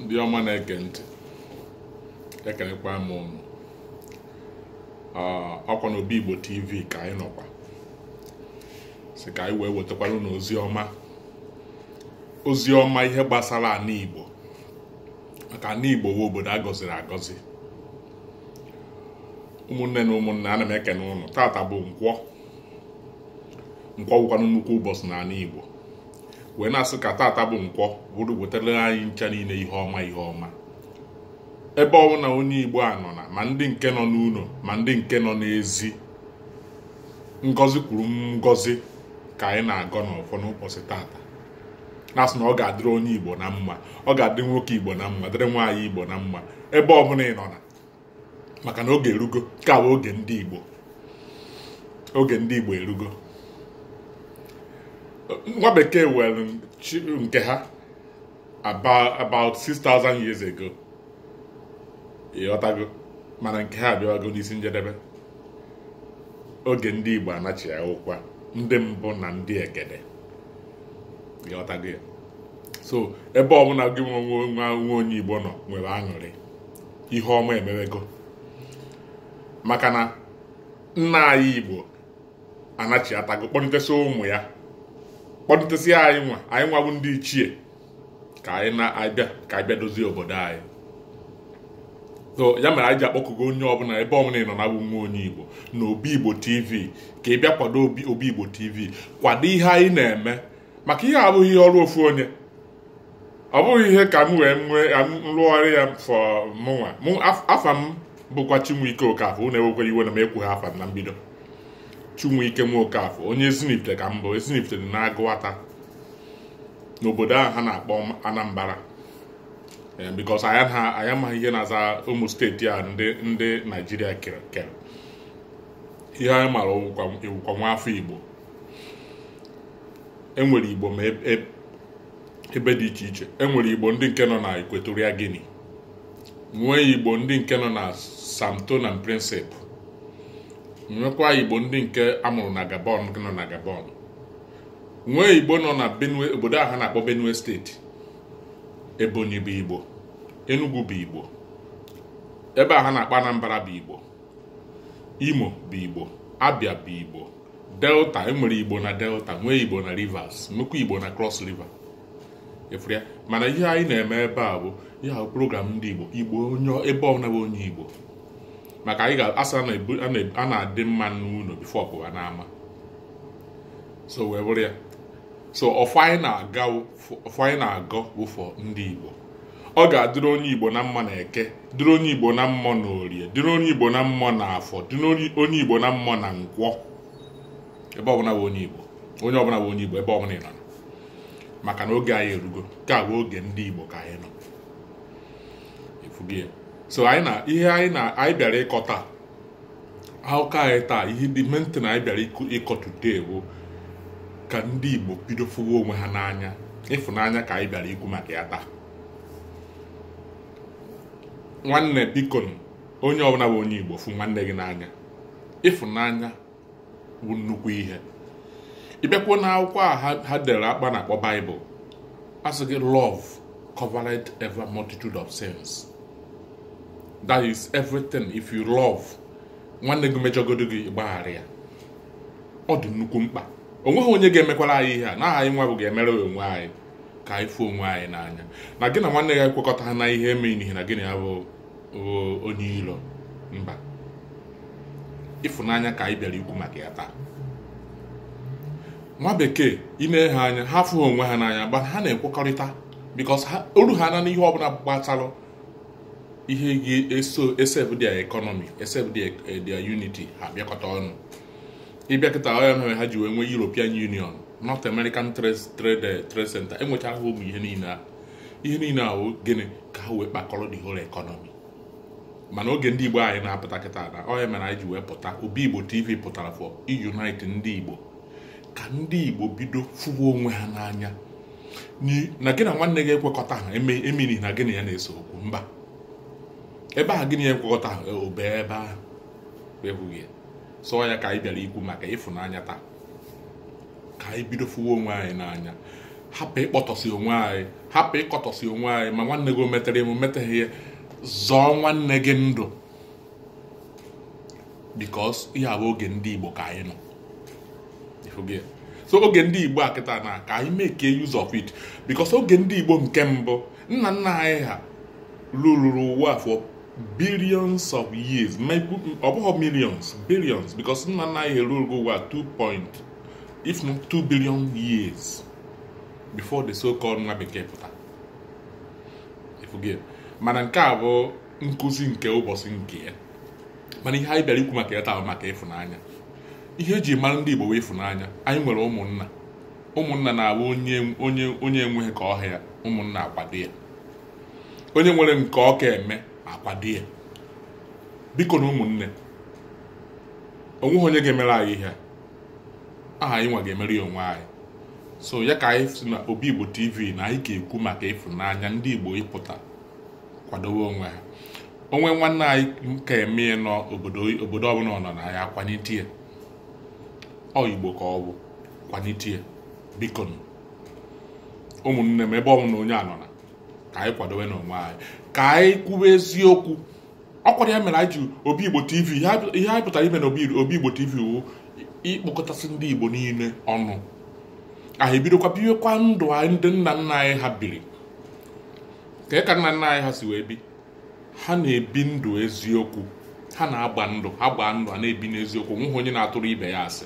ndị ọma na-ege ntị ekenekwa m unu ọkwa na obi igbo tv ka anyị nọkwa sị ka anyị wee wetakwara unu ozi ọma ozi ọma ihe gbasara ana igbo maka ana igbo bụ obodo a gọziri agọzi ụmụnne na ụmụnne ana m ekene unu tata bụ nkwọ nkwọ wụkwanụ nnukwu ụbọchị n'ana igbo wee na-asị ka tata bụ nkwọ buru wetara anyị ncha niile ihe ọma ihe ọma ebe ọbụna onye igbo anọna ma ndị nke nọ n'ụnọ ma ndị nke nọ n'ezi ngọzi kwuru ngọzi ka anyị na-agọ n'ọfọ n'ụbọchị tata na-asị na ọ ga-adịrị onye igbo na mma ọ ga-adịrị nwoke igbo na mma dịrị nwaanyị igbo na mma ebe ọbụna ị nọna maka na oge erugo ka wụ oge ndị Igbo oge ndị Igbo erugo nwa bekee were nke ha about 6000 years ago ịghọtago mana nke ha abịawago n'isi njedebe oge ndị Igbo anachi wụkwa ndị mbụ na ndị egede ịghọtago ya so ebe ọbụna gị nwa onye Igbo nọ nwere aṅụrị ihe ọma emewego maka na nna anyị igbo anachiatago kpọnitesi ụmụ ya kpọnitesi anyị nwa anyị nwa bụ ndị ichie ka anyị na-abịa ka anyị bịa dozie obodo anyị so ya mere anyị ji akpọkugo onye ọbụna ebe ọbụna ị nọna nwa onye igbo na obi igbo tv ka ị bịa kwado obi igbo tv kwado ihe anyị na-eme maka ihe a abụghị ihe ọrụ ofu onye ọ bụghị ihe ka m wee nwee nrụgharị ya for mụnwa afa m bụkwa Chinweike Okafọ unu ewekwara iwe na m ekwughị afa m na mbido Chinweike nwa Okafọ onye Ezinifite ka m bụ Ezinifite dị n'Agụata n'obodo a ha na-akpọ Anambra eh, because anyị amaghị ihe na-aza ụmụ steeti a ndị ndị Naijiria kere ihe anyị mara ị wụkwa nwa afọ Igbo enwere igbo ma e, e, ebe dị iche iche enwere igbo ndị nke nọ na Equatorial Guinea nwee igbo ndị nke nọ na Sao Tome and Principe nwekwa igbo ndị nke a mụrụ na Gabon nọ na Gabon nwee igbo nọ na Benue obodo a ha na-akpọ Benue steeti Ebonyi bụ igbo Enugu bụ igbo ebe a ha na-akpọ Anambra bụ igbo Imo bụ igbo Abia bụ igbo delta enwere igbo na delta nwee igbo na rivers nwekwa igbo na cross river ị fụrụ ya mana ihe anyị na-eme ebe a bụ ihe ahụ program ndị igbo igbo onye ebe ọbụla bụ onye igbo maka anyị ga-asị a na-adị mma n'ụlọ before ọ pụwa n'ama so wee bụrụ ya so ọfọ anyị na-agọ bụ for ndị igbo ọ ga-adịrị onye igbo na mma na eke dịrị onye igbo na mma na orie dịrị onye igbo na mma na afọ dịrị onye igbo na mma na nkwọ ebe ọbụla bụ onye igbo onye ọbụla bụ onye igbo ebe ọbụla ị nọ maka na oge anyị erugo nke a bụ oge ndị igbo ka anyị nọ ị fụgo ya so ihe anyị bịara ịkọ taa akụkọ anyị taa ihe the main thing anyị bịara ịkọ today bụ ka ndị Igbo bido fụwa onwe ha n'anya ịfụnanya ka anyị bịara ikwu maka ya taa nwanne biko onye ọbụla bụ onye Igbo fụ nwanne gị n'anya ịfụnanya bụ nnukwu ihe ị bịakwuo na akwụkwọ a ha dere akpa na-akpọ bible a sị gị love covereth every multitude of sins that is everything if you love nwanne gị mejọgodo gị gbaghara ya ọ dị nnukwu mkpa o nweghị onye ga-emekwara anyị ihe a na anyị nwa bụ ga-emere onwe anyị ka anyị fụ onwe anyị n'anya na gị na nwanne gị ekwekọtaha n'ihe emeanịhị na gị na ya bụ onye ilo mba ịfụnanya ka anyị bịara ikwu maka ya taa nwa bekee ị nee ha anya ha afụghị onwe ha n'anya but ha na-ekwekọrịta because o ruhana n'ihe ọbụla gbatalụ ihe ga-eso esave their economy esave their eh, unity ha bịakọta ọnụ ị bịa kịta ọ ya mere ha ji wee nwee European Union North American Trade eh, Trade Center enwechara ha ụmụ ihe niile a ihe niile a bụ gịnị ka ha wee kpakọrọ the whole economy mana oge ndị igbo anyị na-apụta kịta na ọ ya mere anyị ji wee pụta obi igbo tv pụtara for unite ndị igbo ka ndị igbo bido fụwa onwe ha n'anya na gị na nwanne gị ekwekọtaha emeanịhị na gị na ya na-ese okwu mba ebe a gị na ya ekwekọtaha e, o bie ebe ahụ ị fụgo ya so ọ ya ka anyị bịara ikwu maka ịfụnanya taa ka anyị bido fụwa onwe anyị n'anya hapụ ịkpọtọsị onwe anyị hapụ ịkọtọsị onwe anyị ma nwanne gị o metere ma o meteghị ya zọọ nwanne gị ndụ because ihe a bụ oge ndị Igbo ka anyị nọ so oge ndị Igbo a kịta na ka anyị make use of it because oge ndị Igbo nke mbụ nna nna anyị ha ruluru ụwa for billions of years ọ bụghị millions billions because nna nna anyị erulugo ụwa 2 point if not 2 billion years before the so-called nwa bekee pụta mana nke a bụ nkụzi nke ụbọchị nke ya mana ihe anyị bịara ikwu maka ya taa wụ maka ịfụnanya ihe eji mara ndị Igbo wụ ịfụnanya anyị nwere ụmụnna ụmụnna na-abụ onye enweghị ka ọ ha ya ụmụnna akwado ya onye nwere nke ọ ka eme akwado ya biko nụ ụmụnne o nweghị onye ga-emere anyị ihe ahụ anyị nwa ga-emere ya onwe anyị so ya ka anyị si na obi igbo tv na anyị ga-ekwu maka ịfụnanya ndị igbo ịpụta kwadowe onwe ha o nwee nwanne anyị ka eme n'obodo ọbụla ọ nọ na ya akwanite ya ọ igbo ka ọ bụ kwanite ya biko nụ. ụmụnne m ebe ọbụla onye a nọ na ka anyị kwadowenụ onwe anyị ka anyị kwuwe eziokwu ọ kwara ya mere anyị ji obi igbo tv ihe anyị- ihe anyị pụtara ime na obi Obi igbo tv wụ ịkpọkọtasị ndị igbo niile ọnụ anyị ebidokwa biwekwa ndụ ahụ ndị nna nna anyị ha biri ka ka nna nna anyị ha si wee bi ha na-ebi ndụ eziokwu ha na-agba ndụ ha gbaa ndụ a na-ebi n'eziokwu o nweghị onye na-atụrụ ibe ya asị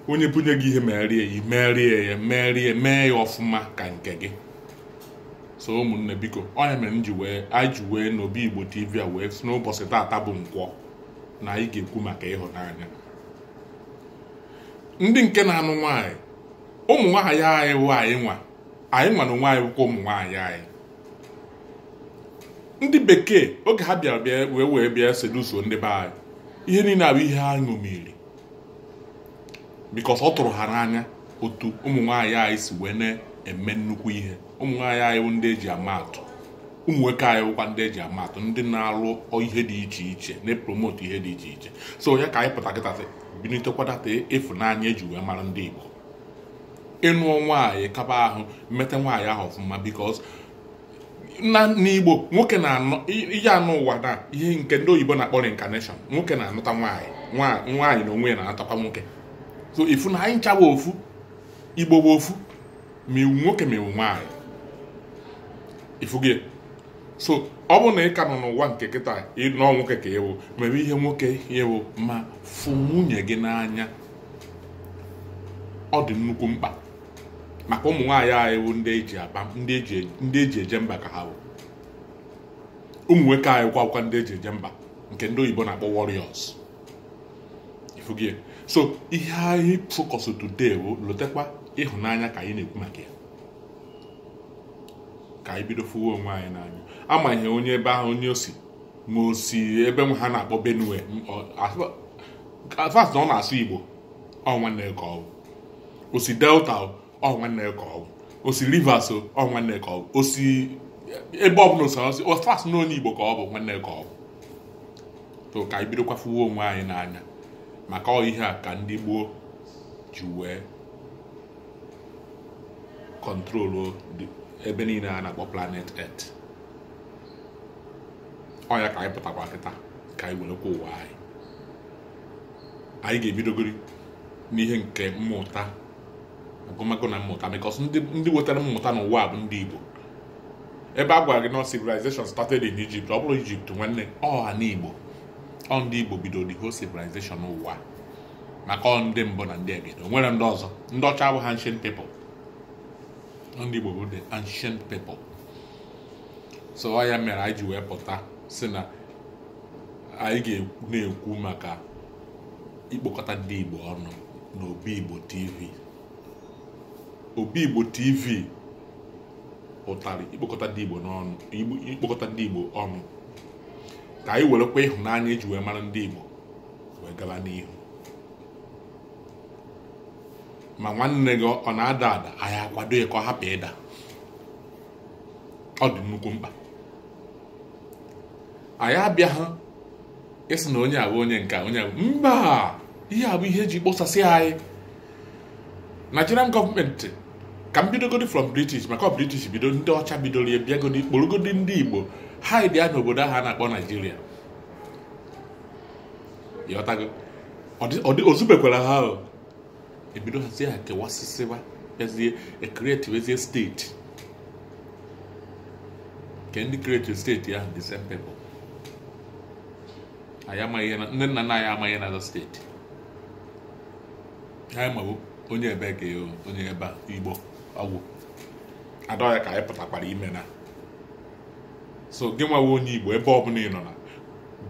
onye bunye gị ihe meere ya meere ya meere mee ya ọfụma ka nke gị so ụmụnne biko ọ ya mere m ji wee anyị ji wee n'obi igbo tv a wee si n'ụbọchị taata bụ nkwọ na anyị ga-ekwu maka ịhụnanya ndị nke na-anụ nwaanyị ụmụ nwaanyị anyị wụ anyị nwa anyị nwa na onwe anyị wụkwa ụmụ nwaanyị anyị ndị bekee oge ha bịara bịa wee wee bịa seduce ndị be anyị ihe niile a bụ ihe ha ṅomiri because ọ tụrụ ha n'anya otu ụmụ nwaanyị anyị si wee na-eme nnukwu ihe ụmụ nwaanyị anyị bụ ndị eji ama atụ ụmụ nwoke anyị bụkwa ndị eji ama atụ ndị na-alụ ihe dị iche iche na-epromotu ihe dị iche iche so ya ka anyị pụta kịta binitekwa that ịfụnanya eji wee mara ndị Igbo ị nụọ nwaanyị kaba ahụ meta nwaanyị ahụ ọfụma because na n'igbo nwoke na-anọ ịnọ ụwa na ihe nke ndị oyibo na-akpọ reincarnation nwoke na-anọta nwaanyị nwaanyị na onwe ya na-anọtakwa nwoke so ị fụ na anyị ncha wụ ofu igbo bụ ofu ma ị wụ nwoke ma ị wụ nwaanyị ị fụgo so ọ bụrụ na ị ka nọ n'ụwa nke kịta nọọ nwoke ka ị wụ mebe ihe nwoke ị wụ ma fụ nwunye gị n'anya ọ dị nnukwu mkpa maka ụmụ nwaanyị anyị bụ ndị eji aba ndị eji eje mba ka ha bụ ụmụ nwoke anyị kwa bụkwa ndị eji eje mba nke ndị oyibo na-akpọ warriors ị fụgo so ihe anyị focus today bụ lotekwa ịhụnanya ka anyị na-ekwu maka ya ka anyị bido fụwa onwe anyị n'anya amaghị onye ebe ahụ onye o si ma o si ebe ha na-akpọ benue as far as na ọ na-asụ igbo ọ nwanne ya ka ọ bụ o si delta o, ọ nwanne ya ka ọ bụ o si rivers o, ọ nwanne ya ka ọ bụ o si ebe ọbụla o si as far as na onye igbo ka ọ bụ nwanne ya ka ọ bụ so ka anyị bidokwa fụwa onwe anyị n'anya maka ọ ihe a ka ndị gboo ji wee kọntrolu ebe niile a na-akpọ planet earth ọ ya ka anyị pụtakwa kịta ka anyị werekwa ụwa anyị anyị ga-ebidogori n'ihe nke mmụta agụmagụ na mmụta because ndị wetara mmụta n'ụwa bụ ndị Igbo ebe a gwara gị na civilization started in Egypt ọ bụrọ Egypt nwanne ọ ana Igbo ọ ndị Igbo bido the whole civilization ụwa maka ọ ndị mbụ na ndị egede o nwere ndị ọzọ ndị ọcha bụ ancient people ndị Igbo bụ the ancient people so ọ ya mere anyị ji wee pụta sị na anyị ga na-ekwu maka ikpokọta ndị Igbo ọnụ na Obi Igbo TV Obi Igbo TV pụtara ikpokọta ndị Igbo ọnụ ikpokọta ndị Igbo ọnụ ka anyị werekwa ịhụnanya eji wee mara ndị Igbo wee gaba n'ihu ma nwanne gị ọ na-ada ada anyị akwado ya ka ọ hapụ ịda ọ dị nnukwu mkpa anyị abịaghị ịsị na onye a bụ onye nke onye a bụ mba ihe a bụ ihe eji kpọsasị anyị Nigerian gọọmenti ka m bidogodi from British maka British bido ndị ọcha bidoro ya bịagodi kpọrọgodi ndị Igbo add ya n'obodo ahụ a na-akpọ Nigeria yet o zubekwara ha ahụ ebido hazie ha kewasịsịba bịazie ekretiwezie steeti nke ndị kreti steeti ahụ the same people anyị amaghị ihe na ndị nna nna anyị amaghị ihe na-aza steeti ha ma wụ onye ebe ka onye ebe a igbo ọ gwụ and ọ ya ka anyị pụtakwara ime now so gị nwa wụ onye igbo ebe ọbụla ị nọ na